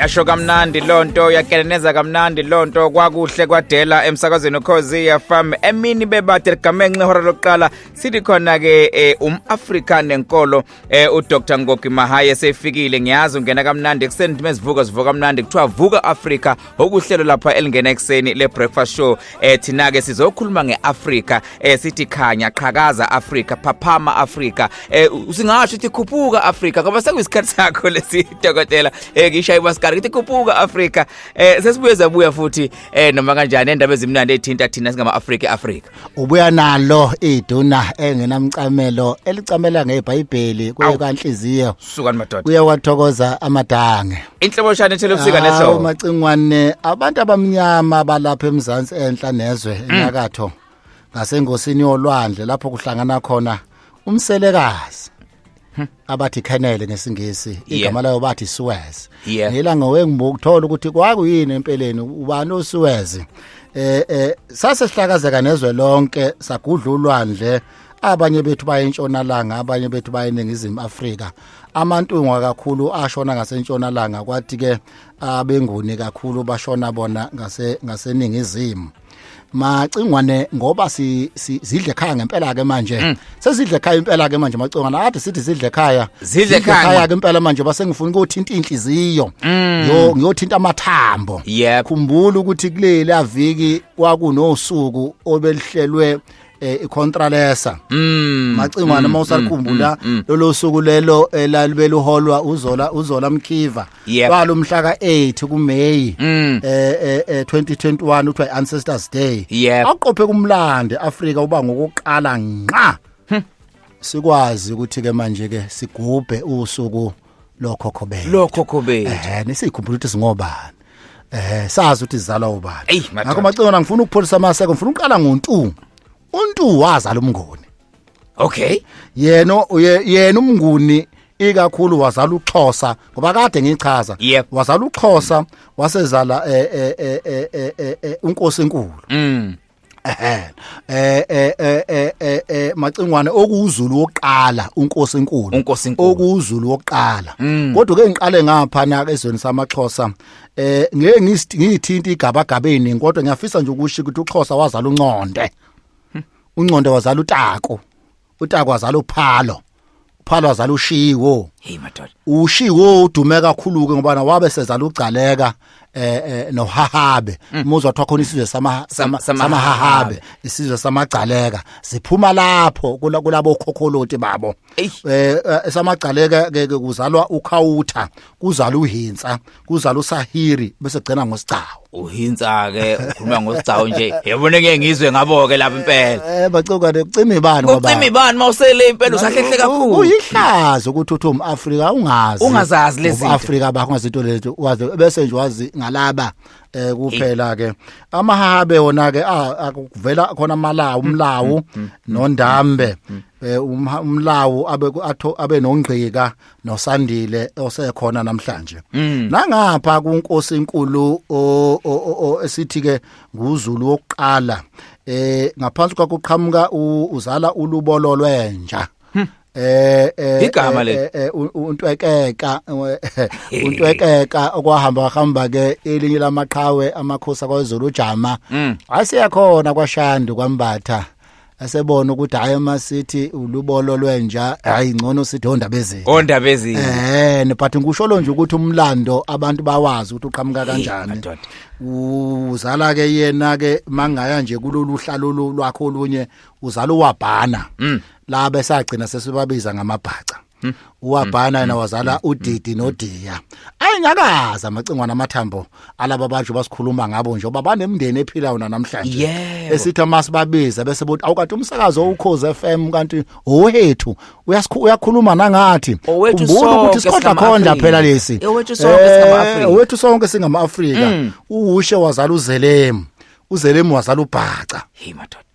yasho kamnandi lonto yakeleneza kamnandi lonto kwakuhle kwadela emsakazweni ukhozi FM emini bebade ligamanxe ihora lokuqala sithi khona ke eh, umAfrika nenkolo Eh uDr Ngoki Mahaye sefikile ngiyazi ungena kamnandi ekuseni ntima ezivuka zivuka kamnandi kuthiwa vuka Africa okuhlelo lapha elingena ekuseni le breakfast show eh thina ke sizokhuluma ngeAfrica eh sithi khanya qhakaza Africa phaphama Africa eh singasho ukuthi khuphuka Africa ngoba sekuyisikhathi sakho lesi dokotela eh ngishaye basikari ukuthi khuphuka Africa eh sesibuye zabuya futhi eh noma kanjani endaba ezimnandi ethinta thina singama Africa Africa ubuya nalo iduna engenamcamelo elicamela ngebhayibheli kuye kanhliziyo sukani madoda kuye wathokoza amadange inhloboshane ethele ubusika nehlobo macingwane abantu abamnyama balapha emzansi enhla nezwe mm. enyakatho ngasengosini yolwandle lapho kuhlangana khona umselekazi Hmm. abathi khenele ngesingisi igama layo bathi Suez ngila ngowengimbuka ukuthola ukuthi kwakuyini empeleni ubani uSuez eh eh sase sihlakazeka nezwe lonke sagudla ulwandle abanye bethu baye entshonalanga abanye bethu baye eningizimu Afrika amantungwa kakhulu ashona ngasentshonalanga kwathi ke abenguni kakhulu bashona bona ngase ngaseningizimu macingwane ngoba si, si zidle khaya ngempela ke manje mm. sezidle khaya impela ke manje macingwane ade sithi zidle khaya zidle khaya ke impela manje base ngifuna ukuthinta inhliziyo mm. yo ngiyothinta amathambo yep. khumbula ukuthi kuleli aviki kwakunosuku obelihlelwe eh icontralesa mm, macingwana mm, mawusakhumbula mm, mm, lolo suku lelo elalibela uholwa uzola uzola mkhiva yep. balo mhla ka 8 ku May mm. eh, eh, eh 2021 uthi ancestors day yep. aqophe kumlande Africa uba ngokuqala nqa hm. sikwazi ukuthi ke manje ke sigubhe usuku lokhokho bethu lokhokho bethu eh nisikhumbula ukuthi singobani eh sazi ukuthi zizalwa ubani ngakho macingwana ngifuna ukupholisa amaseko ngifuna uqala ngontu untu wazala umnguni okay yena yena umnguni ikakhulu wazala uXhosa ngoba kade ngichaza yep. wazala uXhosa wasezala eh eh eh eh, eh, eh, eh unkosi enkulu mm eh eh eh eh eh, eh macingwane okuwuzulu wokuqala unkosi enkulu Unkosi enkulu. okuwuzulu wokuqala Mm. kodwa ke ngiqale ngapha na ezweni samaxhosa eh ngeke ngist- ngithinta igabagabeni kodwa ngiyafisa nje ukusho ukuthi uxhosa wazala unconde unconde wazala utako utakwa zala uphalo uphalo wazala ushiwo hey madoda ushiwo udume kakhulu ke ngoba wabe sezala ugcaleka eh, eh nohahabe mm. muzwa kwathiwa khona isizwe sama samahahabe isizwe samagcaleka siphuma lapho kulabo khokholoti babo eh, eh samagcaleka ke kuzalwa ukhawutha kuzala uhinsa kuzala usahiri bese gcina ngosigcawu uhinsa ke ukhuluma ngosigcawu nje yabona ngeke ngizwe ngabo ke lapha impela eh bacoka ne ucima ibani ngoba ucima ibani mawusele impela usahlehle kakhulu uyihlazo ukuthi uthi umAfrika ungazi ungazazi lezi Afrika bakho ngazinto lezo wazi bese nje wazi ngalaba eh kuphela ke amahabe wona ke akuvela khona amalawu umlawu mm, mm, mm, nondambe eh, um, umlawu abe atho abe nongqika nosandile osekhona namhlanje mm. nangapha kunkosi enkulu esithi ke nguzulu wokuqala eh ngaphansi kwakuqhamuka uzala ulubolo lwenja hmm. eh, eh igama eh, le eh, untwekeka untwekeka okwahamba hamba ke elinye lamaqhawe amakhosi kwaZulu ujama hmm. aseyakhona kwaShandu kwambatha asebona ukuthi hayi uma sithi ulubolo lwenja hayi ngcono sithi ondaba ezini ondaba ezini eh but ngikusholo nje ukuthi umlando abantu bawazi ukuthi uqhamuka kanjani uzala ke yena ke mangaya nje kulolu hlalo lwakho olunye uzala uwabhana mm. la besagcina sesibabiza ngamabhaca Hmm. uwabhana yena hmm. wazala hmm. udidi nodiya ayi ngakaza amacingwana amathambo alaba bantu basikhuluma ngabo nje oba banemndeni ephilayo namhlanje esithi amasibabiza bese bothi awukade umsakazo ukhoze FM kanti ohethu uyakhuluma nangathi umbona ukuthi sikhodla khonda phela lesi owethu sonke singama eh, Afrika owethu sonke singama Afrika uwushe wazala uzelemu uzelemu wazala ubhaca hey madoda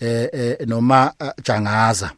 eh, eh noma eh, jangaza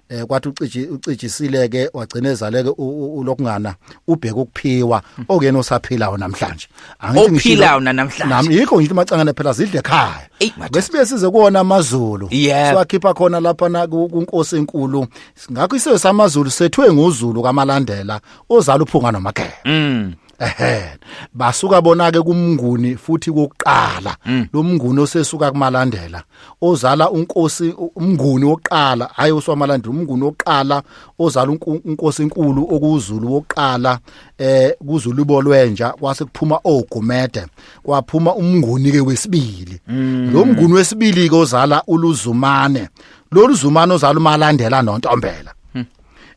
eh kwathi uciji ucijisile ke wagcina ezaleke ulokungana ubheka ukuphiwa okuyena osaphilayo namhlanje angithi ngiphilayo namhlanje nami yikho ngithi macangane phela zidle ekhaya besibe size kuona amazulu siwakhipha khona lapha na kunkosi enkulu ngakho isizwe samazulu sethwe ngozulu kamalandela ozala uphunga nomagela mm. ehe basuka bona ke kumnguni futhi kokuqala mm. lo mnguni osesuka kumalandela ozala unkosi umnguni wokuqala hayi oswamalandela umnguni wokuqala ozala unkosi enkulu okuzulu wokuqala eh kuzulu bolwenja kwase kuphuma ogumede kwaphuma umnguni ke wesibili mm. lo mnguni wesibili ke ozala uluzumane lolu zumane ozala umalandela nontombela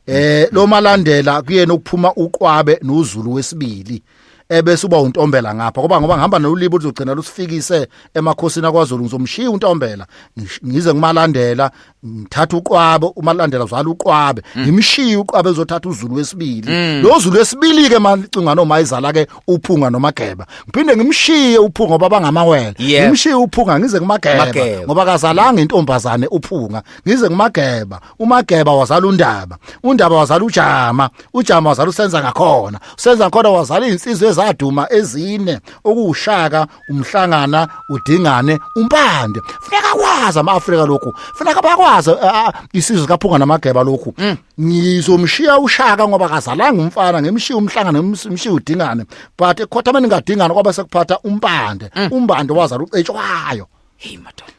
eh lo malandela kuyena ukuphuma uqwabe noZulu wesibili ebese uba untombela ngapha ngoba ngoba ngihamba nolulibo uzogcina lusifikise emakhosini akwaZulu ngizomshiya untombela ngize ngimalandela ngithatha uqwabe umalandela uzala uqwabe mm. ngimshiye uqwabe uzothatha uZulu wesibili mm. lo Zulu wesibili ke macinga noma izala ke uphunga nomageba ngiphinde ngimshiye uphunga ngoba bangamawele ngimshiye uphunga ngize kumageba ngoba kazalanga intombazane uphunga ngize kumageba umageba wazala undaba undaba wazala ujama ujama wazala usenza ngakhona usenza ngakhona wazala izinsizwe ezaduma ezine okuwushaka umhlangana udingane umpande funeka kwazi ama-afrika lokhu funeka bakwazi isizwe kaphunga namageba lokhu mm. ngizomshiya ushaka ngoba kazalanga umfana ngimshiya umhlangana ngimshiya udingane but ekhothameni ngadingana kwaba sekuphatha umpande mm. umbande wazala ucetshwayo heyi madoda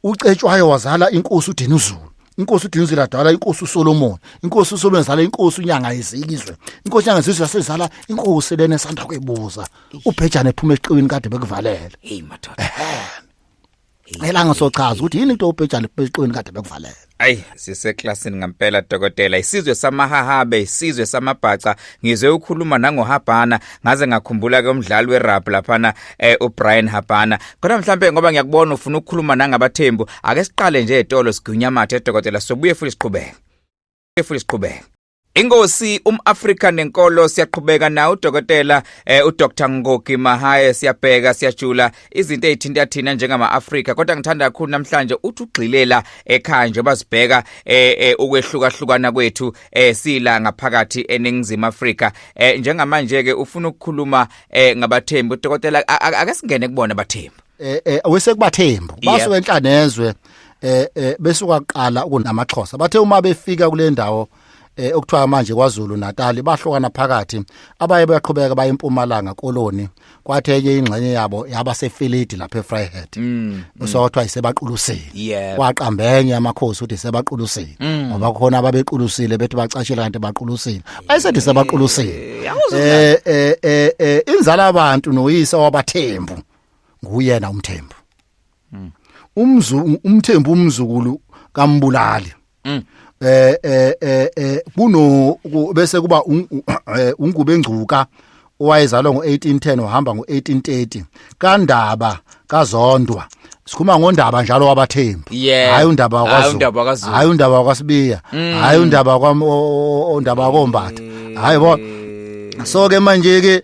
uCetshwayo wazala inkosi uDinuzulu inkosi uDinuzulu adala inkosi uSolomon inkosi uSolomon zala inkosi uNyanga yezizwe inkosi uNyanga yezizwe yasezala inkosi lena esanda kwebuza ubhejane ephuma eqiwini kade bekuvalele hey madoda elanga sochaza ukuthi yini into obhejane eqiwini kade bekuvalele Ayi siseklasini ngempela dokotela isizwe samahahabe isizwe samabhaca ngizwe ukhuluma nangohabhana ngaze ngakhumbula ke umdlali werap laphana eh, uBrian Habhana khona mhlambe ngoba ngiyakubona ufuna ukukhuluma nangabathembu ake siqale nje etolo sigunya mathe dokotela sobuye futhi siqhubeke futhi siqhubeke Ingosi umAfrika nenkolo siyaqhubeka na udokotela eh, uDr Ngogi Mahaye siyabheka siyajula izinto ezithinta thina njengama Afrika kodwa ngithanda kakhulu namhlanje uthi ugxilela ekhaya nje bazibheka eh, eh, ukwehluka hlukana kwethu eh, sila ngaphakathi eningizimu Afrika eh, njengamanje ke ufuna ukukhuluma eh, ngabathembu udokotela akasingene kubona abathembu eh, eh wesekubathembu basuke enhlanezwe eh, eh besuka kuqala ukunamaxhosa bathe uma befika kule ndawo eh okuthiwa manje kwaZulu Natal bahlokana phakathi abaye baqhubeka baye empumalanga koloni kwathi enye ingxenye yabo yaba sefilidi lapha eFryhead mm, mm. so kuthiwa isebaquluseni waqambenye amakhosi uthi sebaquluseni mm. ngoba khona ababequlusile bethi bacashile kanti baqulusile ayisethi sebaquluseni eh, eh eh eh inzala abantu noyise wabathembu nguyena umthembu mm. umzungu umthembu umzukulu kambulali mm. eh eh eh, eh kuno bese kuba eh, ungube ngcuka owayezalwa ngo1810 ohamba ngo1830 kandaba kazondwa sikhuma ngondaba njalo wabathembu yeah. hayi undaba wakwaZulu hayi undaba wakwaSibiya mm. hayi undaba kwaondaba kombatha hayi bo so ke manje ke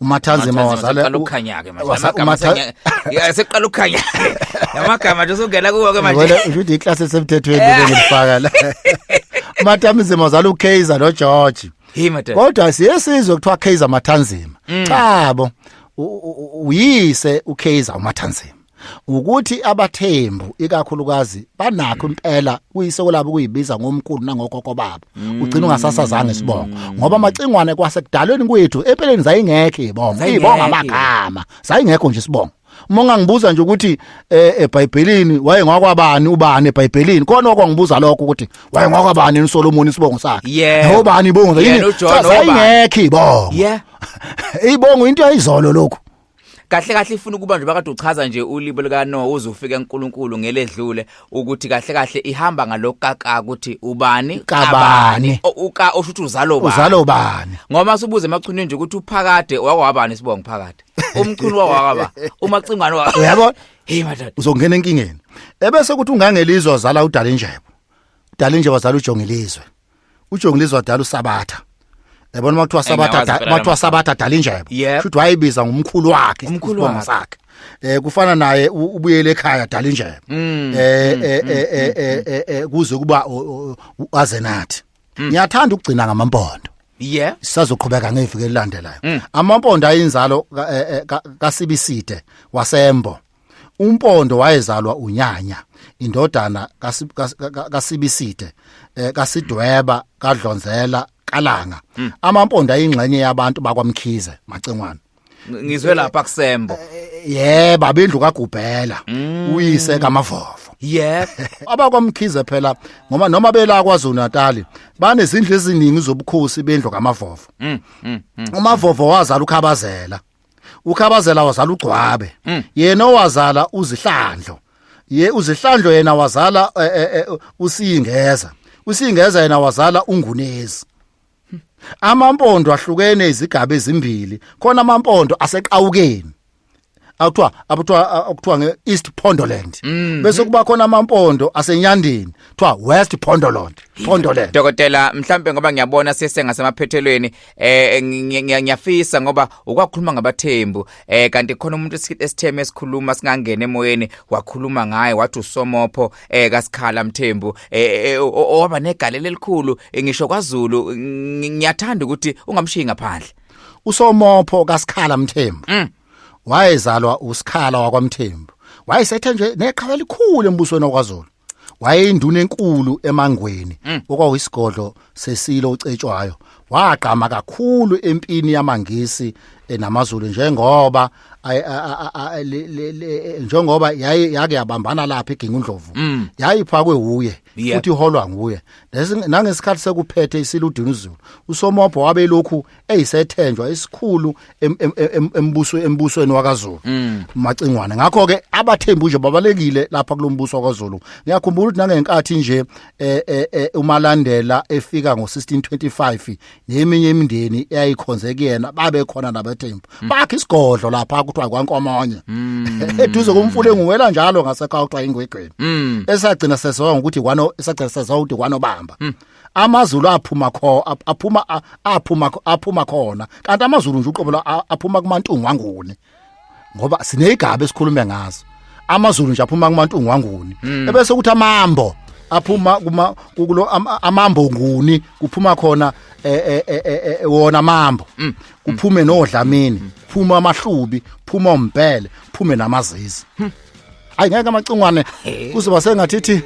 umathanzi mawazala ukhanya ke manje amagama seqala ukhanya amagama nje usungena kuwo ke manje usho ukuthi iclass esemthethweni eh. ngifaka la umathanzi mawazala ukaizer no George kodwa siyesizwe kuthiwa kaizer mathanzima mm. cha bo uyise ukaizer umathanzima ukuthi abathembu ikakhulukazi banakho impela kuyisoko labo kuyibiza ngomkhulu nangokoko babo mm. ugcina ungasasazanga isibongo ngoba amacingwane kwasekudalweni kwethu empeleni zayingekho ibongo ibonga amagama zayingekho nje isibongo uma ungangibuza nje ukuthi eh, eBhayibhelini waye ngwakwabani ubani eBhayibhelini kona okwangibuza lokho ukuthi waye ngwakwabani uSolomon isibongo sakhe yeah. ubani ibongo yini ayingekho ibongo yeah ibongo into yayizolo lokho kahle kahle ifuna ukuba nje bakade uchaza nje ulibo lika no uze ufike uNkulunkulu ngeledlule ukuthi kahle kahle ihamba ngalokaka ukuthi ubani kabani uka usho ukuthi uzalo bani uzalo bani ngoba subuze emachunini nje ukuthi uphakade wakwabani sibonga phakade umchunu wakwaba umacingwane wa uyabona hey madad uzongena enkingeni ebese ukuthi ungangelizwa zala udala injebo udala injebo zala ujongelizwe utsho ngilizwa dala usabatha yabona uma kuthiwa sabatha uma kuthiwa sabatha dala injebo futhi wayibiza ngumkhulu wakhe umkhulu wakhe eh kufana naye ubuyele ekhaya dala injebo mm. eh, mm, eh, mm, eh, eh eh eh kuze kuba aze nathi ngiyathanda ukugcina ngamampondo yeah sisazoqhubeka ngeviki elilandelayo amampondo ayinzalo eh, eh, kaSibiside wasembo umpondo wayezalwa unyanya indodana kasibiside eh, kasidweba kadlonzela kalanga hmm. amampondo ayingxenye yabantu bakwamkhize macengwana ngizwe lapha kusembo eh, eh, ye baba indlu kagubhela hmm. uyise kamavovo yebo abakwamkhize phela ngoba noma bela kwaZulu Natal banezindlu eziningi zobukhosi bendlu kamavovo hmm, umavovo wazala ukhabazela ukhabazela wazala ugcwabe Mm. yena owazala uzihlandlo ye uzihlandlo yena wazala eh, eh, eh, usingeza usingeza yena wazala ungunezi amampondo ahlukene izigaba ezimbili khona amampondo aseqawukeni akuthiwa abuthiwa akuthiwa nge East Pondoland bese kuba khona amampondo asenyandeni kuthiwa West Pondoland Pondoland Dokotela mhlambe ngoba ngiyabona sese ngasemaphethelweni eh ngiyafisa ngoba ukwakhuluma ngabathembu eh kanti khona umuntu esitheme esikhuluma singangena emoyeni wakhuluma ngaye wathi usomopho eh kasikhala mthembu eh, eh owaba negalelo elikhulu eh, ngisho kwaZulu ngiyathanda ukuthi ungamshiyi ngaphandle usomopho kasikhala mthembu mm. wayezalwa usikhala wakwamthembu wayesethe nje neqhawe elikhulu embusweni wakwaZulu wayeyinduna enkulu emangweni mm. okwawuyisigodlo sesilo ocetshwayo wagqama kakhulu empini yamangisi eh, namazulu njengoba njengoba yaye yake yabambana lapha egingundlovu mm. yayiphakwe uye futhi iholwa nguye nangesikhathi sekuphethe isiludini uzulu usomobho wabelokhu eyisethenjwa esikhulu embuso embusweni wakaZulu mm. macingwane ngakho ke abathembu nje babalekile lapha kulombuso wakaZulu ngiyakhumbula ukuthi nangenkathi nje eh, eh, eh, umalandela efika ngo1625 neminye imindeni eyayikhonze kuyena babe khona nabathembu mm. bakhe isigodlo lapha kuthiwa kwankomanye mm. eduze komfule nguwela njalo ngasekho kuthiwa ingwegweni esagcina seziwa ngokuthi kwano esagcina seziwa ukuthi kwanobamba amazulu aphuma kho aphuma aphuma aphuma khona kanti amazulu nje uqobo aphuma kumantungu wanguni ngoba sinezigaba esikhulume ngazo amazulu nje aphuma kumantungu wanguni hmm. ebese ukuthi amambo aphuma kuma kulo amambo nguni kuphuma khona e, e, e, wona amambo hmm. kuphume nodlamini phuma amahlubi phuma umbhele phume namazizi hmm. hayi ngeke amacungwane kuzoba sengathithi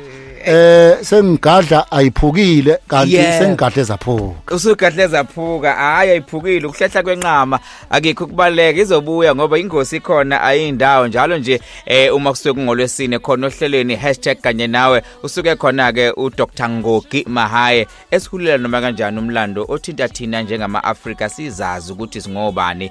eh sengigadla ayiphukile kanti Yeah. sengigadle zaphuka usugadle zaphuka hayi ayiphukile ukuhlehla kwenqama akekho kubaleka izobuya ngoba ingosi ikhona ayindawo njalo nje eh uma kusuke kungolwesine khona ohlelweni hashtag kanye nawe usuke khona ke uDr Ngogi Mahaye esihulela noma kanjani umlando othinta thina njengama Africa sizazi ukuthi singobani